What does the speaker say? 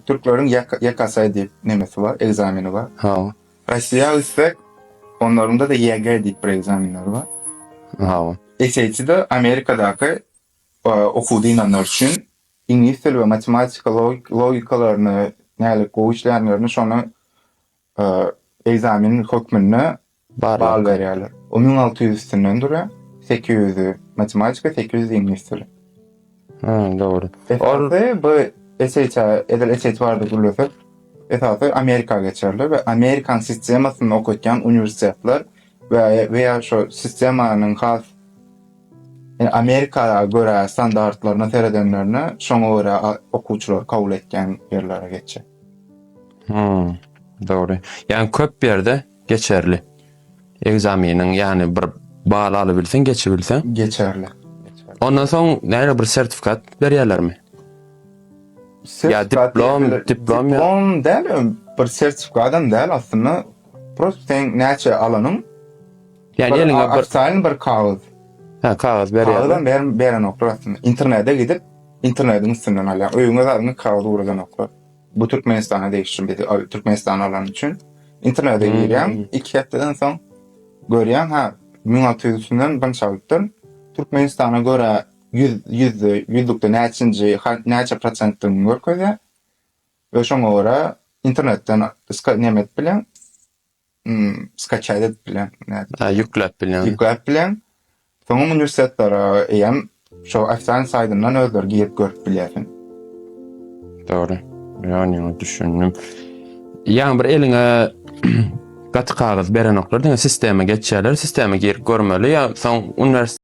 Türkleriň ýekasay diýip nemesi bar, ekzameni bar. Hawa. Rossiýa gitsek, onlaryňda-da YG diýip bir ekzamenleri bar. Hawa. SAT-de Amerikadaky okuw dynanlar üçin iňlis dili we matematika logikalaryny nälik gowy işleýänlerini şony Egzamin hökmünde bal berýärler. O müň alty ýüz üstünden durýar. Sekiz ýüzi matematika, sekiz ýüzi iňlis dili. Hum, dogry. Esasy bu SHA, edil SHA barada gürlesek, esasy Amerika geçerli we Amerikan sistemasynda okatýan uniwersitetler we we ýa şo sistemanyň has ýa Amerika görä standartlaryna seredenlerine şoňa görä okuwçylary kabul etýän ýerlere geçjek. Hmm. Dogry. Ýani köp ýerde geçerli. Ekzameniň ýani bir bal alybilseň, geçibilseň. Geçerli. Ondan soň näre bir sertifikat berýärlermi? Sertifikat diplom, diplom, diplom däl, bir sertifikat hem däl aslynda. Prost seň näçe alanyň? Ýani eliňe bir ofitsialny bir kagyz. Hä, kagyz berýär. Kagyz hem ber, berenoklar aslynda. Internete gidip, internetiň üstünden alýaň. Öýüňe zadyňy kagyz ugradanoklar. Bu Türkmenistana degişli biz Türkmenistan alany üçin. Internete girýäň, iki hepdeden soň görýäň, hä, müň alty ýüz üstünden dynç alypdyr. Türkmenistana görä ýüz, ýüzde, ýüzlükde näçinji, näçe prosentdigini görkezýär. We şoňa görä internetden ska neme edip bileň. Imm skaçat edip bileň. Nädip? Ýükläp bileň. Ýükläp bileň. Soňam uniwersitetlara eýýäm şo ofisan saýtyndan özleri girip görüp bilýärsiň. Dogry. Ýani düşündim. Ýani bir eliňe gaty kagyz berenoklar diňe sistema geçýärler. Sistema girip görmeli ýa soň uniwers